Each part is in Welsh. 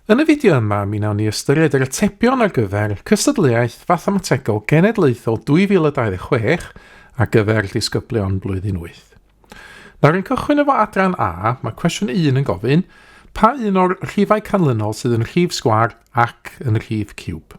Yn y fideo yma, mi nawn ni ystyried yr atebion ar gyfer cystadleuaeth fathemategol genedlaethol 2026 ar gyfer disgyblion blwyddyn 8. Nawr yn cychwyn efo adran A, mae cwestiwn 1 yn gofyn pa un o'r rhifau canlynol sydd yn rhif sgwar ac yn rhif ciwb.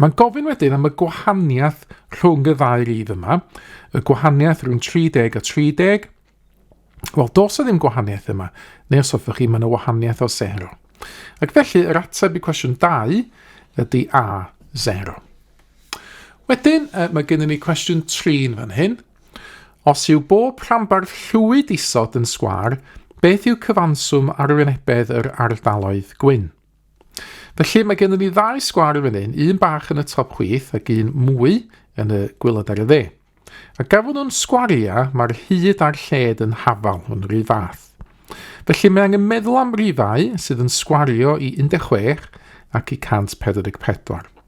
Mae'n gofyn wedyn am y gwahaniaeth rhwng y ddau rif yma, y gwahaniaeth rhwng 30 a 30. Wel, dos o ddim gwahaniaeth yma, neu os hoffech chi, mae yna wahaniaeth o 0. Ac felly, yr ateb i cwestiwn 2 ydy A, 0. Wedyn, mae gennym ni cwestiwn 3 yn fan hyn. Os yw bob rhanbarth llwyd isod yn sgwar, beth yw cyfanswm arwynebedd yr ardaloedd gwyn? Felly mae gennym ni ddau sgwar yn fan hyn, un bach yn y top chwith ac un mwy yn y gwylod ar y dde. A gafon nhw'n sgwariau, mae'r hyd a'r lled yn hafal yn rhy fath. Felly mae angen meddwl am rifau sydd yn sgwario i 16 ac i 144.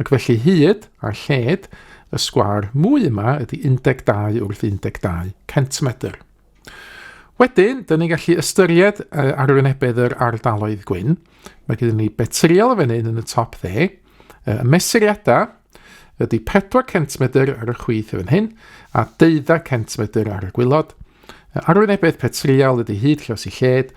Ac felly hyd a lled y sgwâr mwy yma ydy 12 wrth 12 centimedr. Wedyn, dyn ni'n gallu ystyried uh, arwynebedd yr ardaloedd gwyn. Mae gyda ni betriol y fan hyn yn y top dde. Uh, mesuriadau ydy 4 centimedr ar y chwith y fan hyn a 12 centimedr ar y gwylod. Uh, arwynebedd petriol ydy hyd llos i lled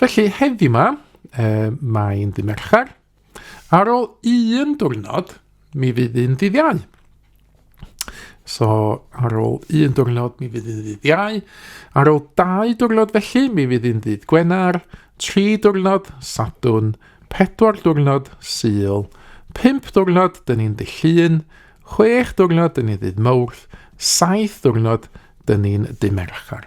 Felly, heddi yma, e, mae'n ddi Mercher, ar ôl un diwrnod, mi fydd un ddydd iau. So, ar ôl un diwrnod, mi fydd un ddydd iau. Ar ôl dau diwrnod felly, mi fydd un ddydd Gwener, tri diwrnod, Sadwn, pedwar diwrnod, Sul, pump diwrnod, dyn ni'n dillun, chwech diwrnod, dyn ni'n ddydd Mawrth, saith diwrnod, dyn ni'n dymerchar.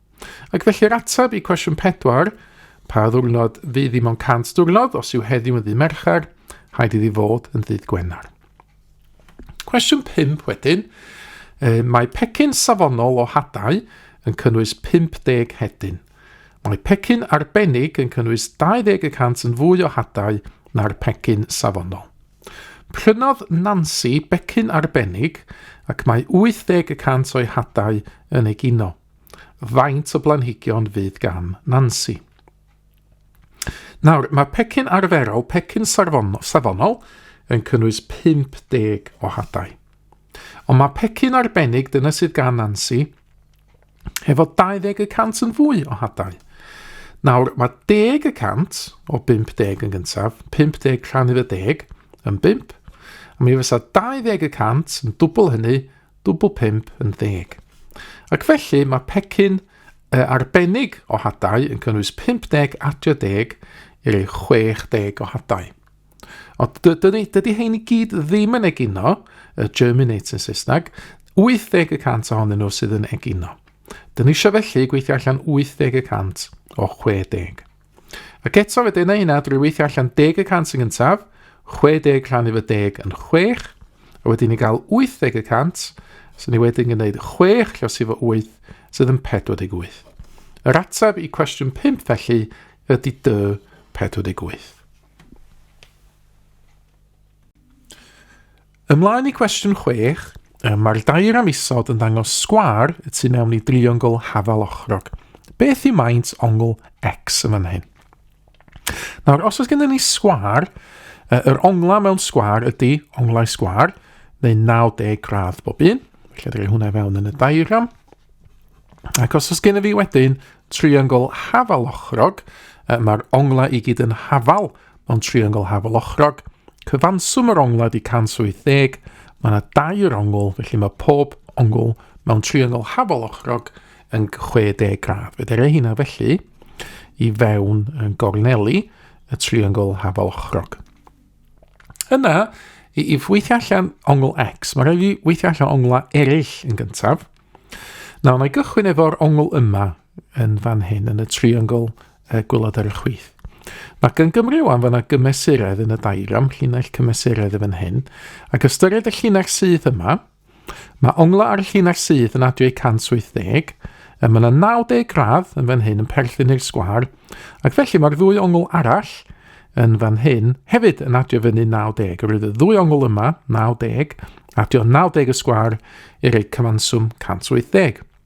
Ac felly'r ateb i cwestiwn pedwar, pa ddwrnod fydd i mewn cant diwrnod os yw heddiw yn ddydd Mercher, rhaid iddi fod yn ddydd Gwener. Cwestiwn 5 wedyn, e, mae pecyn safonol o hadau yn cynnwys 50 hedyn. Mae pecyn arbennig yn cynnwys 20 y cant yn fwy o hadau na'r pecyn safonol. Prynodd Nancy becyn arbennig ac mae 80 y cant o'i hadau yn egino. Faint o blanhigion fydd gan Nansi? Nawr, mae pecyn arferol, pecyn safonol, yn cynnwys 50 o hadau. Ond mae pecyn arbennig, dyna sydd gan Nansi, hefo 20 y cant yn fwy o hadau. Nawr, mae 10 y cant o 50 yn gyntaf, 50 rhan i'r 10 yn 5, a mi fysa 20 y cant yn dwbl hynny, Dwbl pump yn ddeg. Ac felly mae pecyn uh, arbennig o hadau yn cynnwys 50 a 30 i'r 60 o hadau. Ond dydy, dydy hein i gyd ddim yn egino, y germinate yn Saesneg, 80 y cant ohonyn nhw sydd yn egino. Dyna eisiau felly gweithio allan 80 y cant o 60. Ac eto fe dyna hynna, drwy weithio allan deg y cant yn gyntaf, 60 rhan efo deg yn chwech, a wedyn ni gael 80 y cant, sy'n ni wedyn yn gwneud chwech llos efo wyth, sydd yn 48. Yr ateb i cwestiwn 5 felly ydy dy 48. Ymlaen i cwestiwn 6. Mae'r dair am isod yn dangos sgwar y tu mewn i driongl hafal ochrog. Beth yw maint ongl X yn fan hyn? Nawr, os oes gennym ni sgwar, yr onglau mewn sgwar ydy onglau sgwar, neu 90 gradd bob un. Felly, drwy hwnna i fewn yn y diagram. Ac os oes gen i fi wedyn triongl hafal ochrog, mae'r onglau i gyd yn hafal Mewn triongl hafalochrog, cyfanswm yr onglau di 180, mae yna dair ongl, felly mae pob ongl mewn triongl hafalochrog yn 60 gradd. Fe ddere hynna felly i fewn yn gorneli y triongl hafalochrog. Yna, i, i weithio allan ongl X. Mae rhaid i weithio allan onglau eraill yn gyntaf. Nawr, mae gychwyn efo'r ongl yma, yn fan hyn, yn y triongl uh, gwylod ar y chwith. Mae gan Gymru wan fan gymesuredd yn y dairam, llinell cymesuredd y fan hyn, ac ystyried y llinell sydd yma, Mae ongla ar y llun ar syth yn adwy 180, a mae yna 90 gradd yn fan hyn yn perthyn i'r sgwar, ac felly mae'r ddwy ongl arall yn fan hyn hefyd yn adio fyny 90. Yr oedd y ddwy ongl yma, 90, adio 90 y sgwar i roi cyfanswm 180.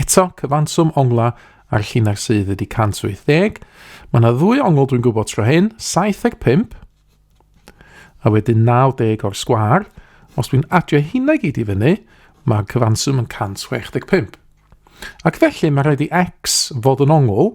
Eto, cyfanswm onglau a'r llinell sydd ydy 180. Mae yna ddwy ongl dwi'n gwybod tro hyn, 75, a wedyn 90 o'r sgwar. Os dwi'n adio hynna i gyd i fyny, mae cyfanswm yn 165. Ac felly mae rhaid i x fod yn ongl,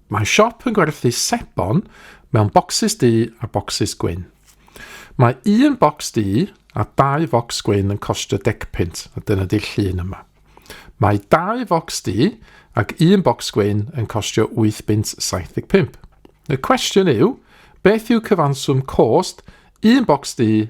Mae siop yn gwerthu sebon mewn bocsys du a bocsys gwyn. Mae un bocs du a dau focs gwyn yn costio degpunt, a dyna di'r llun yma. Mae dau focs du ac un bocs gwyn yn costio 8 bunt 75. Y cwestiwn yw, beth yw cyfanswm cost un bocs du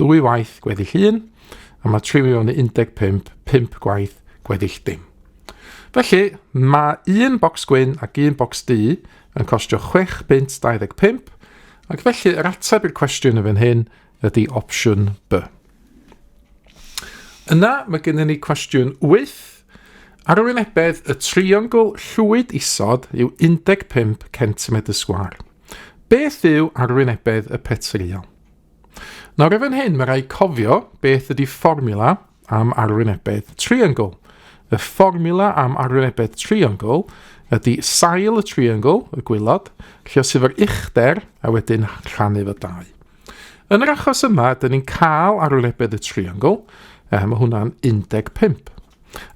Dwy waith gweddill un, a mae tri miliwn neu 15, pump gwaith gweddill dim. Felly, mae un bocs gwyn ac un bocs du yn costio 6 bunt 25, ac felly yr ateb i'r cwestiwn y fan hyn ydy opsiwn B. Yna mae gennym ni cwestiwn 8. Arwynebedd y triongl llwyd isod yw 15 cm sgwar. Beth yw arwynebedd y petryal? Nawr efo'n hyn, mae rhaid cofio beth ydy fformula am arwynebedd triongl. Y fformula am arwynebedd triongl ydy sail y triongl, y gwylod, lle os efo'r uchder a wedyn rhannu fo dau. Yn yr achos yma, dyn ni'n cael arwynebedd y triongl, eh, mae hwnna'n 15.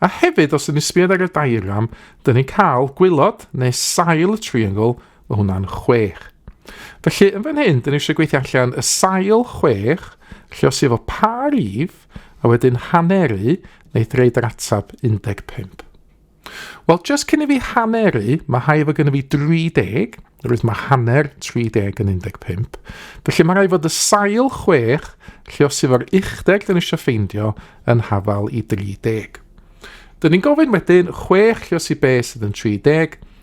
A hefyd, os ydyn ni'n sbiodd ar y diagram, dyn ni'n cael gwylod neu sail y triongl Mae hwnna'n chwech. Felly, yn fan hyn, dyn ni eisiau gweithio allan y sail chwech, lle os efo pa rif, a wedyn haneru, neu threid yr atab 15. Wel, jyst cyn i fi haneru, mae hai efo gen i fi 30, rwy'n mae hanner 30 yn 15. Felly mae rhaid fod y sail chwech, lle os efo'r uchder dyn ni eisiau ffeindio, yn hafal i 30. Dyn ni'n gofyn wedyn chwech lle os i be sydd yn 30,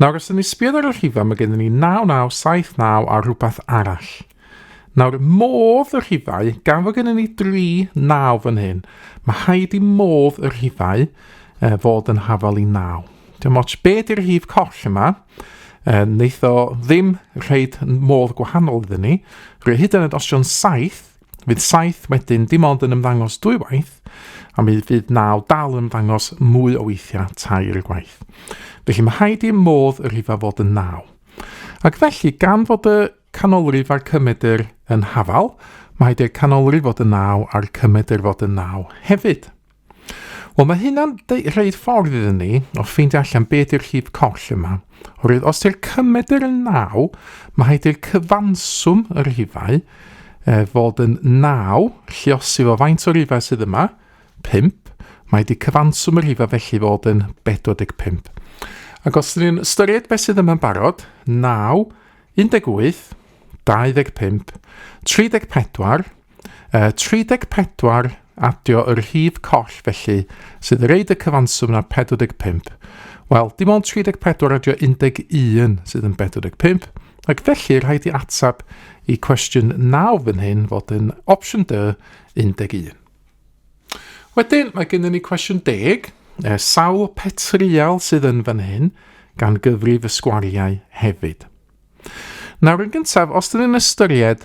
Nawr, os ydyn ni sbiodd ar y rhifau, mae gennym ni 9979 a rhywbeth arall. Nawr, modd y rhifau, gan fod gennym ni dri naw fan hyn, mae rhaid i modd y rhifau e, fod yn hafal i naw. Dim ots be di'r rhif coll yma, e, wneith o ddim rhaid modd gwahanol iddyn ni. Rwy hyd yn oed os yw'n saith, Fydd 7 wedyn dim ond yn ymddangos dwy waith, a mi fydd 9 dal yn ymddangos mwy o weithiau tair gwaith. Felly mae rhaid i'r modd y rhifau fod yn 9. Ac felly, gan fod y canolrif a'r cymedr yn hafal, mae rhaid i'r canolrif fod yn 9 a'r cymedr fod yn 9 hefyd. Wel, mae hynna'n rhaid ffordd iddyn ni o ffeindio allan beth yw'r llif coll yma. Oherwydd os yw'r cymed yr yn naw, mae rhaid i'r cyfanswm yr rhifau e, fod yn naw, lliosi fo faint o rhifau sydd yma, 5, mae wedi cyfanswm yr rhifau felly fod yn 45. Ac os ydyn ni'n ystyried beth sydd yma'n barod, 9, 18, 25, 34, Yy, 34, adio y rhif coll felly, sydd yn reid y cyfanswm na 45. Wel, dim ond 34 adio 11 sydd yn 45, ac felly rhaid i atab i cwestiwn 9 fan hyn fod yn opsiwn dy 11. Wedyn, mae gennym ni cwestiwn 10, e, sawl petrial sydd yn fan hyn, gan gyfrif y sgwariau hefyd. Nawr yn gyntaf, os dyn ni'n ystyried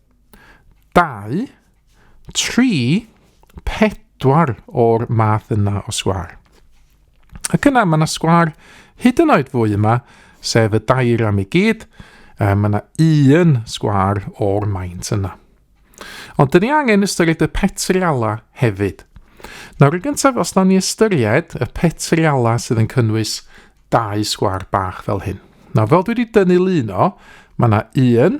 2, 3, 4 o'r math yna o sgwar. Ac yna mae yna sgwar hyd yn oed fwy yma, sef y dair am ei gyd, mae yna un sgwar o'r maint yna. Ond dyn ni angen ystyried y petriala hefyd. Nawr yn gyntaf, os nawn ni ystyried y petriala sydd yn cynnwys dau sgwar bach fel hyn. Nawr fel dwi wedi dynnu lun o, mae yna un,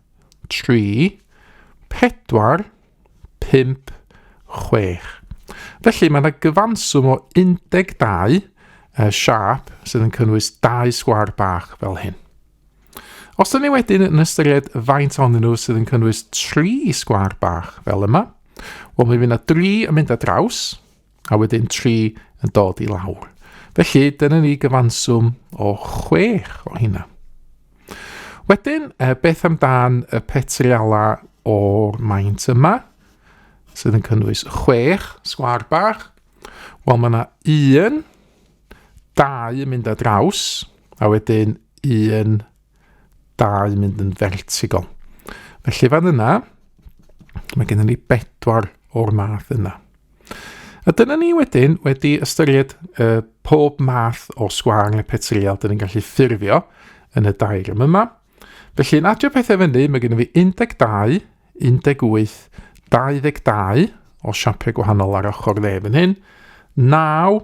3, 4, 5, 6. Felly mae yna gyfanswm o 12 uh, siap sydd yn cynnwys dau sgwar bach fel hyn. Os yna ni wedyn yn ystyried faint o'n nhw sydd yn cynnwys tri sgwar bach fel yma, wel mi fydd yna dri yn mynd â draws, a wedyn 3 yn dod i lawr. Felly, dyna ni gyfanswm o 6 o hynna. Wedyn, e, beth amdan y petriala o'r maint yma, sydd yn cynnwys 6 sgwar bach? Wel, mae yna un, dau yn mynd â draws, a wedyn un dau mynd yn fertigol. Felly fan yna, mae gennym ni bedwar o'r math yna. A dyna ni wedyn wedi ystyried uh, pob math o sgwar neu petriol dyn ni'n gallu ffurfio yn y dair yma yma. Felly yn adio pethau fyny, mae gennym fi 12, 18, 22 o siapiau gwahanol ar ochr dde fan hyn, 9,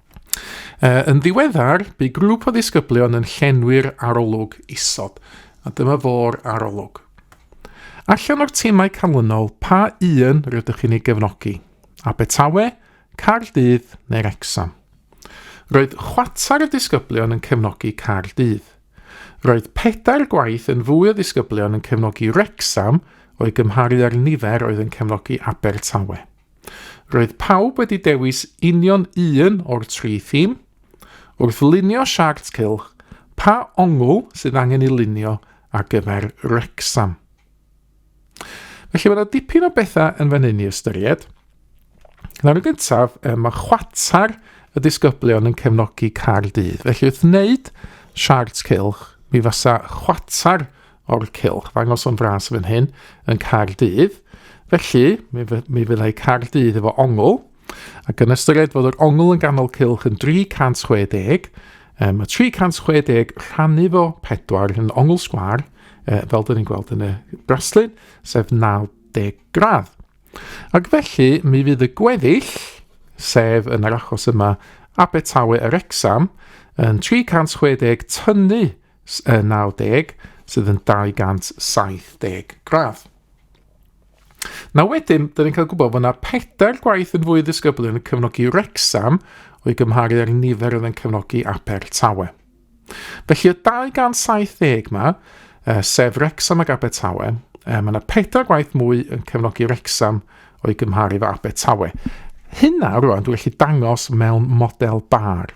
Uh, yn ddiweddar, bu grŵp o ddisgyblion yn llenwi'r arolwg isod, a dyma fo'r arolwg. Allan o'r timau canlynol, pa un rydych chi'n ei gefnogi? Abertawe, Cardydd neu'r Exam? Roedd chwatar y disgyblion yn cefnogi Cardydd. Roedd pedair gwaith yn fwy o ddisgyblion yn cefnogi Rexham o'i gymharu â'r nifer oedd yn cefnogi Abertawe. Roedd pawb wedi dewis union un o'r tri thîm. Wrth lunio siart cylch, pa ongl sydd angen ei lunio ar gyfer Wrecsam? Felly mae yna dipyn o bethau yn fan hyn i ystyried. Nawr yn gyntaf, mae chwatar y disgyblion yn cefnogi Caerdydd. Felly wrth wneud siart cylch, mi fasa chwatar o'r cylch fangos o'n fras fan hyn yn Cardydd. Felly, mi, mi fyddai Cardydd efo ongl, ac yn ystyried fod yr ongl yn ganol cylch yn 360, um, mae 360 rhannu fo 4 yn ongl sgwar, uh, fel dyn ni'n gweld yn y braslun, sef 90 gradd. Ac felly, mi fydd y gweddill, sef yn yr achos yma Abertawe yr Exam, yn 360 tynnu 90 sydd yn 270 gradd. Na wedyn, dyn ni'n cael gwybod bod yna pedair gwaith yn fwy ddisgyblu yn y cyfnogi Rexham o'i gymharu â'r nifer oedd yn cyfnogi Abertawe. Felly y 270 yma, uh, sef Rexham ac Abertawe, uh, mae yna pedair gwaith mwy yn cyfnogi Rexham o'i gymharu fo Abertawe. Hynna rwan dwi'n gallu dangos mewn model bar.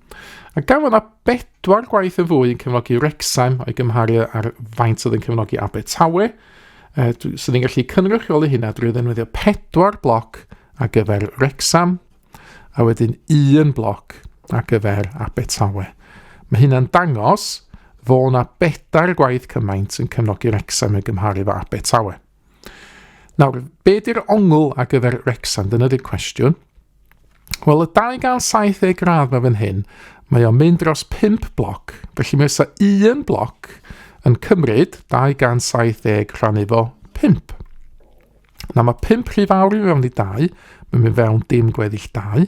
A gan fod yna bedwar gwaith yn fwy yn cefnogi Wrecsam o'i gymharu ar faint oedd yn cefnogi Abertawe, e, sydd yn gallu cynrychioli hynna drwy ddefnyddio pedwar bloc ar gyfer Wrecsam, a wedyn un bloc ar gyfer Abertawe. Mae hynna'n dangos fod yna bedair gwaith cymaint yn cefnogi Wrecsam yn gymharu efo Abertawe. Nawr, be di'r ongl ar gyfer Rexan? Dyna di'r cwestiwn. Wel, y 270 gradd mae fan hyn, mae o'n mynd dros 5 bloc, felly mae ysa un bloc yn cymryd 270 rhan efo 5. Na mae 5 rhy fawr i fewn i 2, mae'n mynd fewn dim gweddill 2.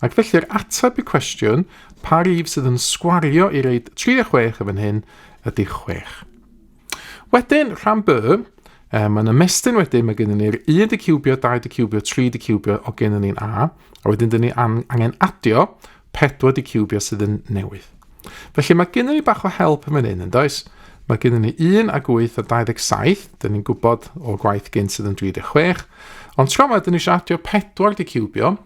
Ac felly'r ateb i cwestiwn pa rif sydd yn sgwario i reid 3 a 6 yn fan hyn ydy 6. Wedyn, rhan B, um, mae'n ymestyn wedyn, mae gennym ni'r 1 di cubio, 2 di cubio, 3 di cubio o gennym ni'n A, a wedyn dyn ni angen adio 4 di cubio sydd yn newydd. Felly mae gennym ni bach o help yn fan hyn, yn does? Mae gennym ni 1 ag 8 a 27, dyn ni'n gwybod o gwaith gynt sydd yn 36, ond tro yma dyn ni eisiau adio 4 di cubio,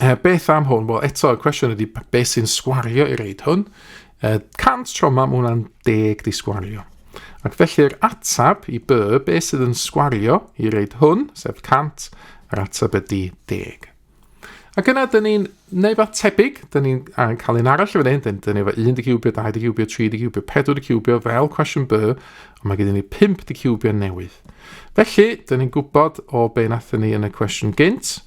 Uh, beth am hwn? Wel, eto, y cwestiwn ydy beth sy'n sgwario i reid hwn? Uh, 100 tro yma, mae hwnna'n deg di sgwario. Ac felly'r atab i by, be sydd yn sgwario i reid hwn, sef 100, yr atab ydy 10. Ac yna, dyn ni'n neud fath tebyg, dyn ni'n cael un arall fan hyn, dyn ni efo 1 di cubio, 2 di cubio, 3 di cubio, 4 di cubio, fel cwestiwn by, ond mae gen ni 5 di cubio newydd. Felly, dyn ni'n gwybod o be nathyn ni yn y cwestiwn gynt,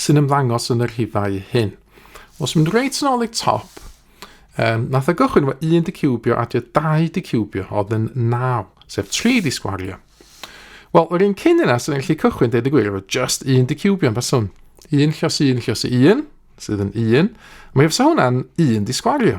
sy'n ymddangos yn y rhifau hyn. Os mynd reit yn ôl i'r top, um, nath y gychwyn efo 1 di cubio a 2 di cubio oedd yn 9, sef 3 di sgwario. Wel, yr un cyn yna sy'n gallu cychwyn dweud y gwir efo just un di cubio yn faswn. Un llos un llos un, sydd yn un. Mae efo hwnna'n un di sgwario.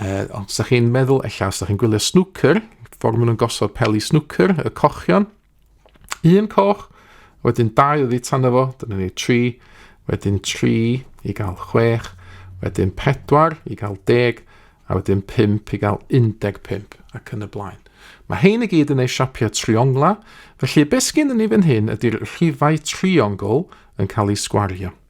Uh, os ydych chi'n meddwl, ella os ydych chi'n gwylio snwcer, ffordd maen nhw'n gosod peli snwcer, y cochion, un coch, wedyn dau oddi tan efo, dyna ni tri, wedyn tri i gael chwech, wedyn pedwar i gael deg, a wedyn pimp i gael 15 ac yn y blaen. Mae hein i gyd yn ei siapiau triongla, felly beth sgyn ni fan hyn ydy'r rhifau triongl yn cael ei sgwario.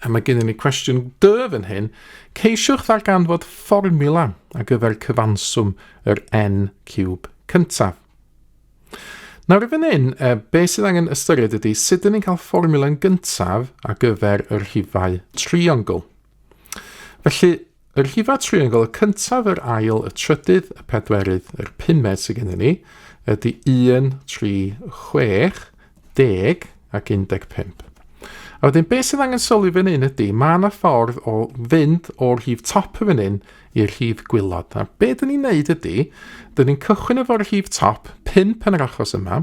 A mae gennym ni cwestiwn dy fan hyn. Ceisiwch ddarganfod fformula ar gyfer cyfanswm yr n cwb cyntaf. Nawr i fan hyn, e, be sydd angen ystyried ydy sut dyn ni'n cael fformula'n gyntaf ar gyfer y rhifau triongl. Felly, Yr llifa triongl, y cyntaf, yr ail, y trydydd, y pedwerydd, yr pumed sydd gennym ni, ydy 1, 3, 6, 10 ac 15. A wedyn, beth sydd angen sylwi fan hyn ydy, mae yna ffordd o fynd o'r rhif top y fan hyn i'r rhif gwylod. A beth dyn ni'n neud ydy, dyn ni'n cychwyn efo'r rhif top, 5 yn yr achos yma,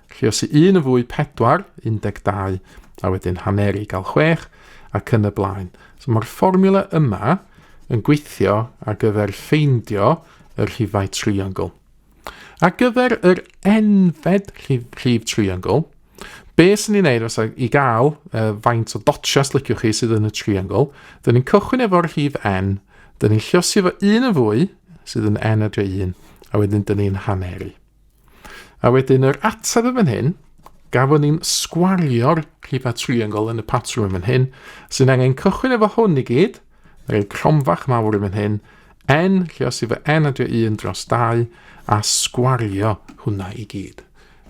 Lluosi un yn fwy 4, 12, a wedyn haneri gael 6, ac yn y blaen. So mae'r fformula yma yn gweithio ar gyfer ffeindio y rhifau triongl. Ar gyfer yr enfed rhif, rhif triongl, be sy'n ni'n neud os i gael uh, faint o dotsia sliciwch chi sydd yn y triongl, dyn ni'n cychwyn efo'r rhif n, dyn ni'n lliosi efo un yn fwy, sydd yn n adre 1, a wedyn dyn ni'n haneru. A wedyn yr ateb yn fan hyn, gafon ni'n sgwario'r rhifa triongl yn y patrwm yn fan hyn, sy'n angen cychwyn efo hwn i gyd, rhoi cromfach mawr yn fan hyn, n, lle os efo n adio 1 dros 2, a sgwario hwnna i gyd.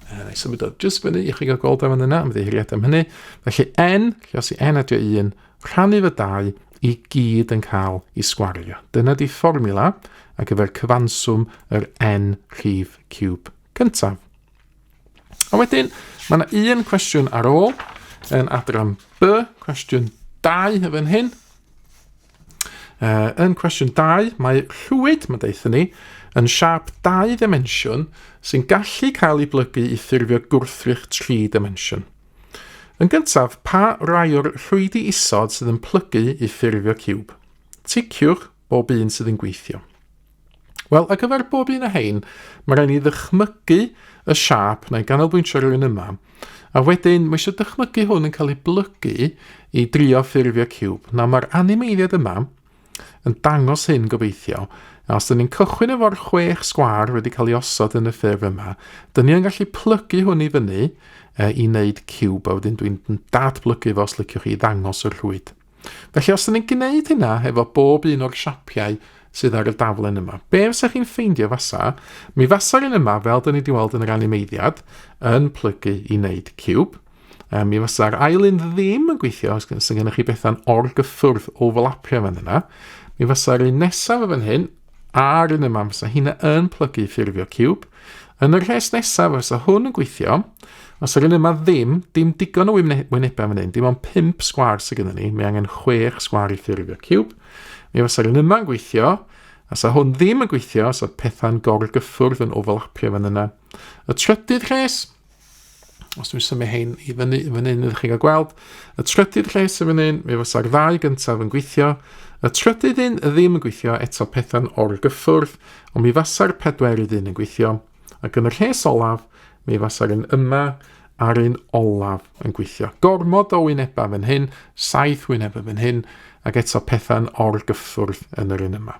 Uh, I symud o jyst fyny i chi gael gweld am yna, am ddeiriad am hynny. Felly n, lle os i n adio 1, Rhannir y dau i gyd yn cael i sgwario. Dyna di fformula ar gyfer cyfanswm yr n rhif cube cyntaf. A wedyn, mae yna un cwestiwn ar ôl yn adran B, cwestiwn 2 y fan hyn. Uh, yn cwestiwn 2, mae rhwyd, mae'n deitha ni, yn siap dau ddimensiwn sy'n gallu cael ei blygu i ffurfio gwrthrych tri dimensiwn. Yn gyntaf, pa rai o'r rhwydi isod sydd yn plygu i ffurfio ciwb? Ticiwch bob un sydd yn gweithio. Wel, ar gyfer bob un o hein, mae rhaid ni ddychmygu y siap na'i ganolbwyntio rhywun yma, a wedyn mae eisiau dychmygu hwn yn cael ei blygu i drio ffurfio ciwb. Nawr, mae'r animeiddiad yma yn dangos hyn gobeithio, a os dyn ni'n cychwyn efo'r chwech sgwar wedi cael ei osod yn y ffurf yma, dyn ni yn gallu plygu hwn i fyny e, i wneud cube, a wedyn dwi'n datblygu fo os liciwch chi i ddangos y rhwyd. Felly os dyn ni'n gwneud hynna efo bob un o'r siapiau sydd ar y daflen yma, be fysa chi'n ffeindio fasa? Mi fasa'r un yma, fel dyn ni wedi weld yn yr animeiddiad, yn plygu i wneud cube, Um, mi fysa'r ail un ddim yn gweithio os sy'n gennych chi bethau'n orgyffwrdd overlapio fan yna. Mi fysa'r un nesaf yn fan hyn a'r un yma, fysa hynna yn plygu ffurfio cube. Yn y rhes nesaf, fysa hwn yn gweithio. Os yr un yma ddim, dim digon o wynebau fan hyn, dim ond 5 sgwar sydd gennym ni, mae angen 6 sgwar i ffurfio cube. Mi fysa'r un yma'n gweithio, Os a hwn ddim yn gweithio, os oedd pethau'n gorgyffwrdd yn overlapio fan yna. Y trydydd rhes, Os dwi'n symud hein i fyny, fyny yn ydych chi'n cael gweld. Y trydydd lle sy'n fyny, mi fysa'r ddau gyntaf yn gweithio. Y trydydd un y ddim yn gweithio eto pethau'n o'r gyffwrdd, ond mi fysa'r pedwerydd un yn gweithio. Ac yn y rhes olaf, mi fysa'r un yma a'r un olaf yn gweithio. Gormod o wynebau fan hyn, saith wynebau fan hyn, ac eto pethau'n o'r gyffwrdd yn yr un yma.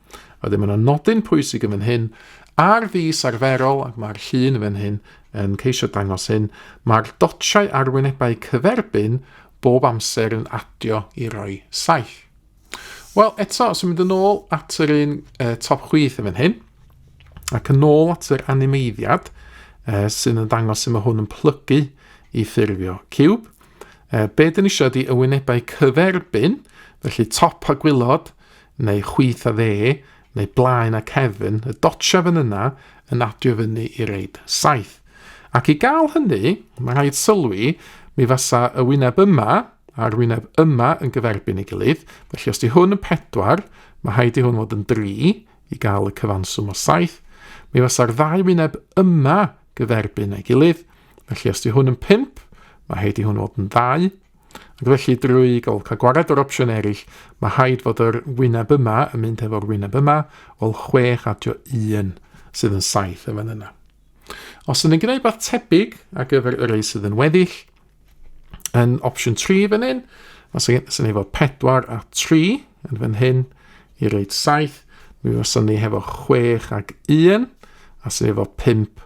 A ddim yna nodyn pwysig yn fan hyn, ar fus arferol, ac mae'r llun yn fan hyn yn ceisio dangos hyn, mae'r dotiau arwynebau cyferbyn bob amser yn adio i roi 7. Wel, eto, os yw'n mynd yn ôl at yr un uh, top chwith yn fan hyn, ac yn ôl at yr animeiddiad uh, sy'n yn dangos sy'n mae hwn yn plygu i ffurfio cube, uh, be dyn ni eisiau ydi ywynebau cyferbyn, felly top a gwylod, neu chwith a dde, neu blaen a cefn, y dotiaf yn yna yn adio fyny i reid saith. Ac i gael hynny, mae rhaid sylwi, mi fasa y wyneb yma a'r wyneb yma yn gyferbyn ei gilydd, felly os di hwn yn pedwar, mae rhaid i hwn fod yn dri i gael y cyfanswm o saith, mi fasa'r ddau wyneb yma gyferbyn ei gilydd, felly os di hwn yn pimp, mae rhaid i hwn fod yn ddau, Ac felly drwy gael cael gwared o'r opsiwn eraill, mae rhaid fod yr wyneb yma yn mynd hefo'r wyneb yma, wel 6 adio 1 sydd yn 7 yn fan yna. Os ydyn ni'n gwneud beth tebyg ar gyfer yr ei sydd yn weddill, yn opsiwn 3 fan hyn, mae sy'n efo 4 a 3 yn fan hyn i reid 7, mi fysa ni hefo 6 ac 1, a sy'n efo 5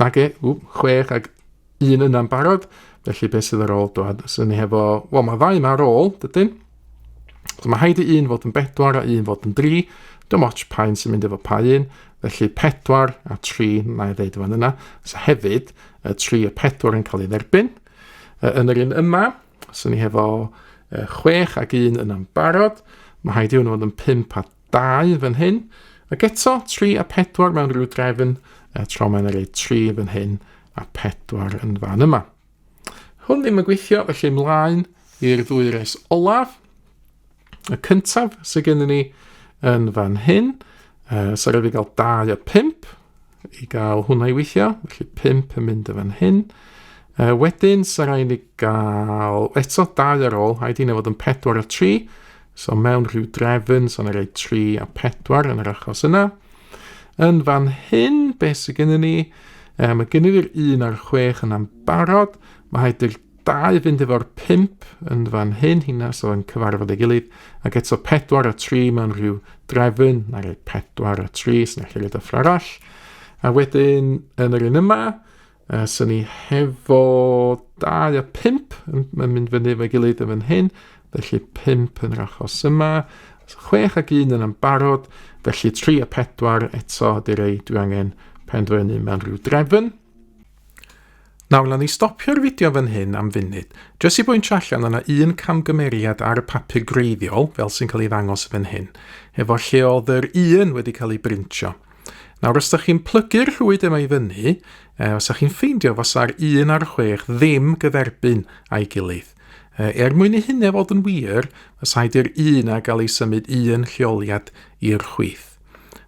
Nage, ww, chwech ag un yna'n barod, felly beth sydd ar ôl dwad? Os ni hefo, wel mae ddau yma ar ôl, dydyn? So mae haid i un fod yn bedwar a un fod yn dri, dim ots pa un sy'n mynd efo pa un, felly pedwar a tri, na i ddeud fan yna, so hefyd, y tri a pedwar yn cael ei dderbyn. Yn yr un yma, so ni hefo chwech ag un yna'n barod, mae haid i hwnnw fod yn pimp a Dau fan hyn, ac eto tri a pedwar mewn rhyw drefn, a tro mae'n yna rhaid tri fan hyn a pedwar yn fan yma. Hwn ddim yn gweithio, felly ymlaen i'r ddwy res olaf. Y cyntaf sydd gennym ni yn fan hyn, uh, sef rhaid i gael 2 a 5, i gael hwnna i weithio, felly 5 yn mynd y fan hyn. Uh, wedyn, sy'n rhaid ni gael eto 2 ar ôl, rhaid i ni fod yn 4 a 3, so mewn rhyw drefn, so yna rhaid 3 a 4 yn yr achos yna. Yn fan hyn, beth sydd gennym ni? Um, mae gennym ni'r 1 a'r 6 yna'n barod, mae rhaid i'r Da i fynd efo'r pimp yn fan hyn, hynna so yn cyfarfod ei gilydd, ac eto 4 a 3 mewn rhyw drefyn, na rei 4 a 3 sy'n eich rhaid o arall. A wedyn yn yr un yma, uh, sy'n ni hefo 2 a 5 yn, yn mynd fyny efo'i gilydd yn fan hyn, felly 5 yn yr achos yma, 6 ac 1 yn yn barod, felly 3 a 4 eto ydy'r ei dwi angen penderfynu mewn rhyw drefn. Nawr, na ni stopio'r fideo fan hyn am funud, jyst i bwyntio allan yna un camgymeriad ar y papur greiddiol, fel sy'n cael ei ddangos fan hyn, efo lle oedd yr un wedi cael ei brintio. Nawr, os da chi'n plygu'r rhwyd yma i fyny, e, os da chi'n ffeindio fasa'r un a'r chwech ddim gyferbyn a'i gilydd. E, er mwyn i hynny fod yn wir, os haid i'r un a gael ei symud un lleoliad i'r chwith.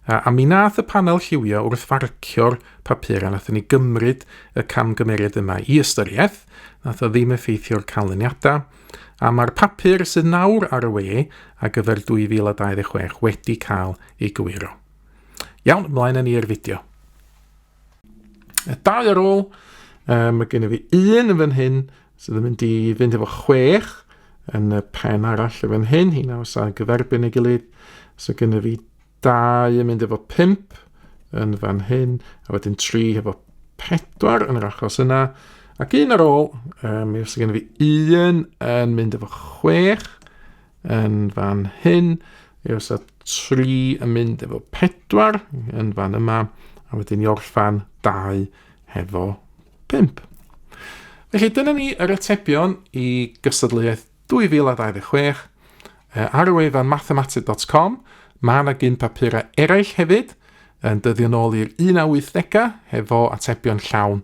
A, a mi nath y panel lliwio wrth farcio'r papur a nath ni gymryd y camgymeriad yma i ystyriaeth, nath o ddim effeithio'r canlyniadau, a mae'r papur sydd nawr ar y we a gyfer 2026 wedi cael ei gywiro. Iawn, mlaen â ni i'r fideo. Y dau ar ôl, um, mae gen i fi un yn fan hyn sydd yn mynd i fynd efo chwech yn y pen arall yn fan hyn, hi nawr sa'n gyferbyn ei gilydd. So gen i fi dau yn mynd efo pimp yn fan hyn, a wedyn tri efo pedwar yn yr achos yna. Ac un ar ôl, um, mi os gen i fi un yn mynd efo chwech, yn fan hyn, i os a 3 yn mynd efo 4 yn fan yma, a wedyn i orffan 2 hefo 5. Felly dyna ni yr atebion i gystadleuaeth 2026 ar y wefan mathematic.com. Mae yna gyn papurau eraill hefyd, yn dyddio nôl i'r 1880 hefo atebion llawn